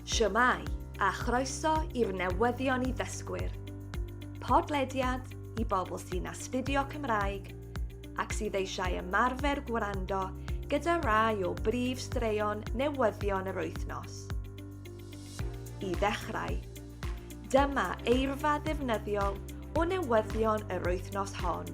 Shwmae, a chroeso i'r newyddion i ddysgwyr. Podlediad i bobl sy'n astudio Cymraeg ac sydd eisiau ymarfer gwrando gyda rai o brif straeon newyddion yr wythnos. I ddechrau, dyma eirfa ddefnyddiol o newyddion yr wythnos hon.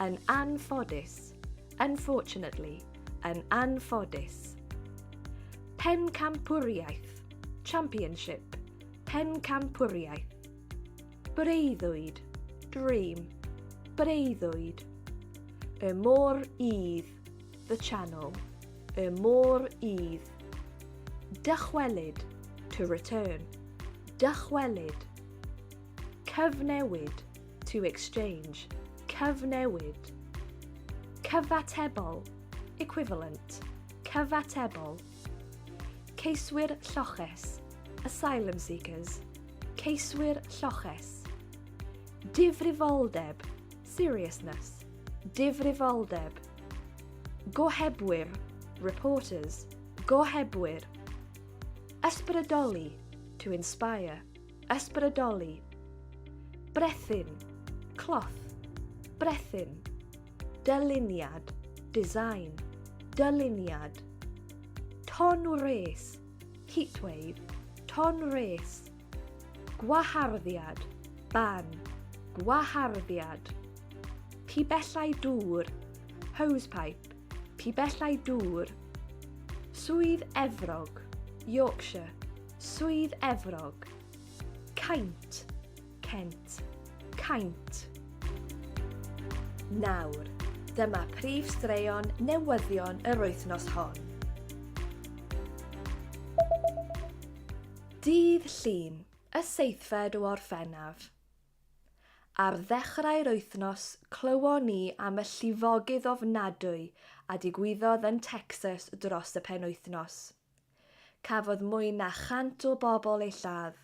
Yn anffodus, unfortunately, yn anffodus. Pencampwriaeth, championship, pencampwriaeth. Breuddwyd, dream, breuddwyd. Y môr idd, the channel, y môr idd. Dychwelyd, to return, dychwelyd. Cyfnewid, to exchange, cyfnewid. Cyfatebol, equivalent, cyfatebol. Ceiswyr lloches, asylum seekers, ceiswyr lloches. Difrifoldeb, seriousness, difrifoldeb. Gohebwyr, reporters, gohebwyr. Ysbrydoli, to inspire. Ysbrydoli. Brethyn. Cloth. Brethyn. Dyluniad. Design. Dyluniad. Ton wres. Heatwave. Ton wres. Gwaharddiad. Ban. Gwaharddiad. Pibellau dŵr. Hosepipe. Pibellau dŵr. Swydd Efrog. Yorkshire. Swydd Efrog. Caint. Kent. Caint. Nawr, dyma prif straeon newyddion yr wythnos hon. Dydd Llun, y seithfed o Orffennaf. Ar ddechrau'r wythnos, clywon ni am y llifogydd ofnadwy a digwyddodd yn Texas dros y penwythnos. Cafodd mwy na 100 o bobl eu lladd,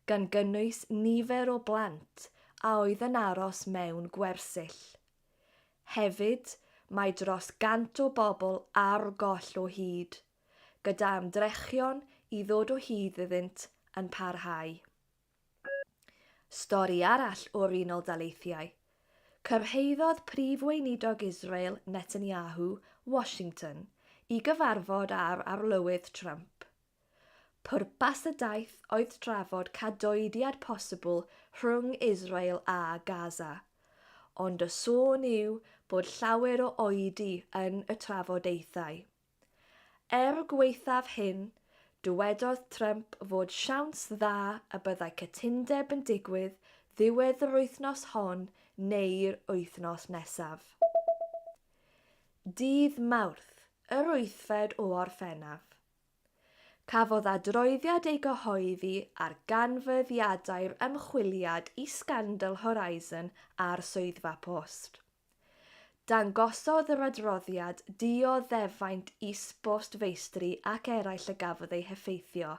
gan gynnwys nifer o blant a oedd yn aros mewn gwersyll. Hefyd, mae dros 100 o bobl ar goll o hyd, gyda ymdrechion i ddod o hyd iddynt yn parhau. Stori arall o'r Unol Daleithiau. Cyrhaeddodd Prif Weinidog Israel Netanyahu Washington i gyfarfod â'r Arlywydd Trump. Pwrpas y daith oedd trafod cadoediad posibl rhwng Israel a Gaza, ond y sôn yw bod llawer o oedi yn y trafodaethau. Er gwaethaf hyn, dywedodd Trump fod siawns dda y byddai cytundeb yn digwydd ddiwedd yr wythnos hon neu'r wythnos nesaf. Dydd Mawrth, yr wythfed o Orffennaf, cafodd adroddiad ei gyhoeddi ar ganfyddiadau'r ymchwiliad i sgandal Horizon a'r Swyddfa Post. Dangosodd yr adroddiad dioddefaint is-bost feistri ac eraill y gafodd eu heffeithio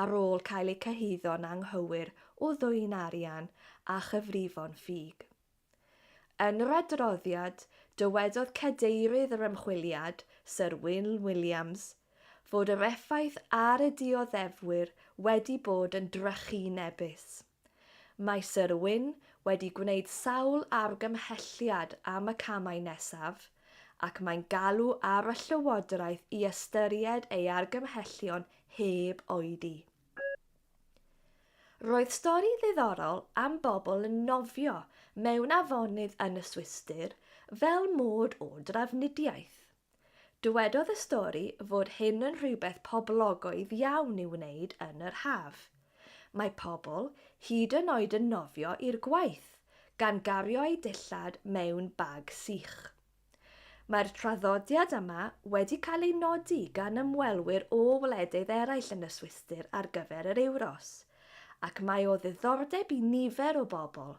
ar ôl cael eu cyhuddo'n anghywir o ddwyn arian a chyfrifon ffug. Yn yr adroddiad, dywedodd cadeirydd yr ymchwiliad, Syr Wyn Williams, fod yr effaith ar y dioddefwyr wedi bod yn drychinebus. Mae Syr Wyn wedi gwneud sawl argymhelliad am y camau nesaf, ac mae'n galw ar y Llywodraeth i ystyried ei argymhellion heb oedi. Roedd stori ddiddorol am bobl yn nofio mewn afonydd yn y Swistir fel mode o drafnidiaeth. Dywedodd y stori fod hyn yn rhywbeth poblogaidd iawn i'w wneud yn yr haf. Mae pobl hyd yn oed yn nofio i'r gwaith, gan gario eu dillad mewn bag sych. Mae'r traddodiad yma wedi cael ei nodi gan ymwelwyr o wledydd eraill yn y Swistir ar gyfer yr Ewros, ac mae o ddiddordeb i nifer o bobl,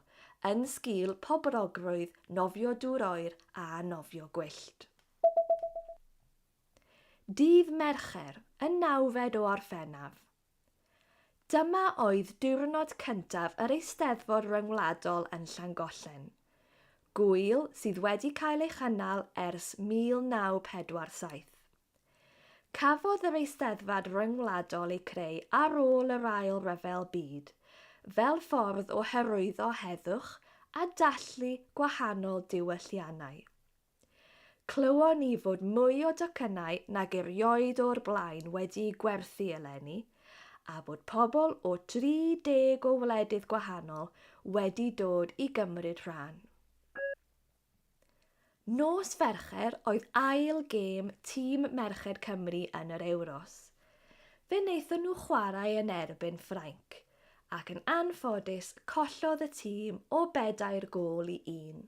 yn sgil pobrogrwydd nofio dŵr oer a nofio gwyllt. Dydd Mercher, y nawfed o Orffennaf. Dyma oedd diwrnod cyntaf yr Eisteddfod Ryngwladol yn Llangollen. Gŵyl sydd wedi cael ei chynnal ers 1947. Cafodd yr Eisteddfod Ryngwladol ei creu ar ôl yr Ail Ryfel Byd fel ffordd o hyrwyddo heddwch a dathlu gwahanol diwylliannau. Clywon ni fod mwy o docynnau nag erioed o'r blaen wedi'u gwerthu eleni, a bod pobl o 30 o wledydd gwahanol wedi dod i gymryd rhan. Nos Fercher oedd ail gêm tîm merched Cymru yn yr Ewros. Fe wnaethon nhw chwarae yn erbyn Ffrainc, ac yn anffodus collodd y tîm o bedair gôl i un.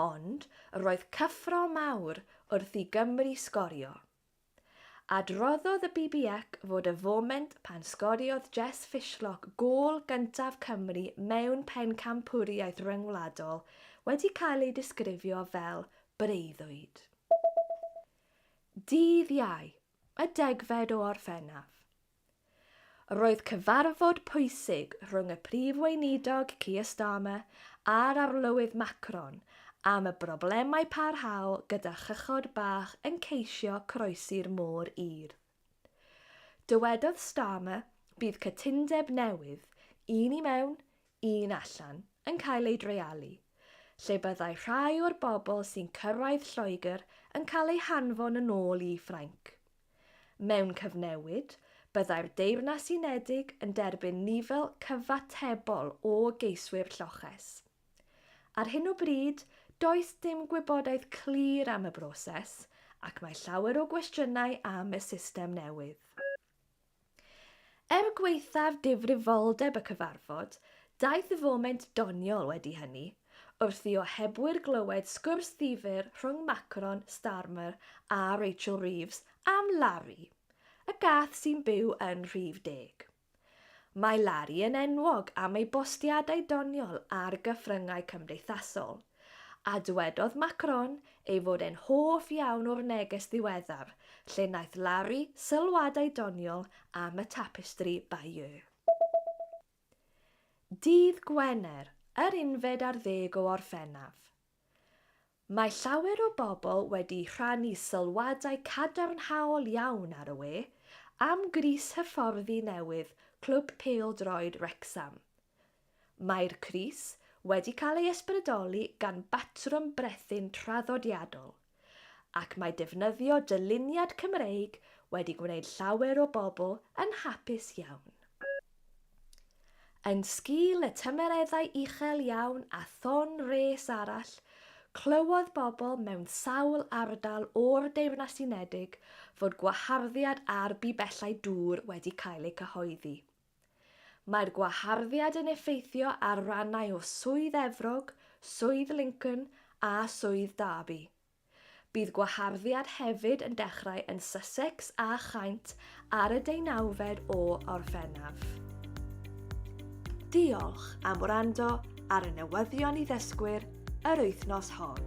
Ond roedd cyffro mawr wrth i Gymru sgorio. Adroddodd y BBUC fod y foment pan sgoriodd Jess Fishlock gôl gyntaf Cymru mewn pencampwriaeth ryngwladol wedi cael ei disgrifio fel breuddwyd. Dydd Iau, y degfed o Orffennaf, Roedd cyfarfod pwysig rhwng y Prif Weinidog Keir Starmer a'r Arlywydd Macron am y broblemau parhaol gyda chychod bach yn ceisio croesi'r Môr Urdd. Dywedodd Starmer, Bydd cytundeb newydd, un i mewn, un allan, yn cael ei dreialu, lle byddai rhai o'r bobl sy'n cyrraedd Lloegr yn cael eu hanfon yn ôl i Ffrainc. Mewn cyfnewid, byddai'r Deyrnas Unedig yn derbyn nifer cyfatebol o geiswyr lloches. Ar hyn o bryd, does dim gwybodaeth clir am y broses ac mae llawer o gwestiynau am y system newydd. Er gwaethaf difrifoldeb y cyfarfod, daeth y foment doniol wedi hynny, wrth i ohebwyr glywed sgwrs ddifyr rhwng Macron, Starmer a Rachel Reeves am Larry, y gath sy'n byw yn rhif deg. Mae Larry yn enwog am ei bostiadau doniol ar gyfryngau cymdeithasol, A dywedodd Macron ei fod e'n hoff iawn o'r neges ddiweddar, lle wnaeth Larry sylwadau doniol am y tapestri Bayeux. Dydd Gwener, yr unfed ar ddeg o Orffennaf. Mae llawer o bobl wedi rhannu sylwadau cadarnhaol iawn ar y we am grys hyfforddi newydd Clwb Pêl-droed Wrecsam, Mae'r crys wedi cael ei ysbrydoli gan batrwm brethyn traddodiadol, ac mae defnyddio dyluniad Cymreig wedi gwneud llawer o bobl yn hapus iawn. Yn sgil y tymereddau uchel iawn a thon wres arall, clywodd bobl mewn sawl ardal o'r Deyrnas Unedig fod gwaharddiad ar bibellau dŵr wedi cael eu cyhoeddi. Mae'r gwaharddiad yn effeithio ar rannau o Swydd Efrog, Swydd Lincoln a Swydd Derby. Bydd gwaharddiad hefyd yn dechrau yn Sussex a Chaint ar y deunawfed o Orffennaf. Diolch am wrando ar y newyddion i ddysgwyr yr wythnos hon.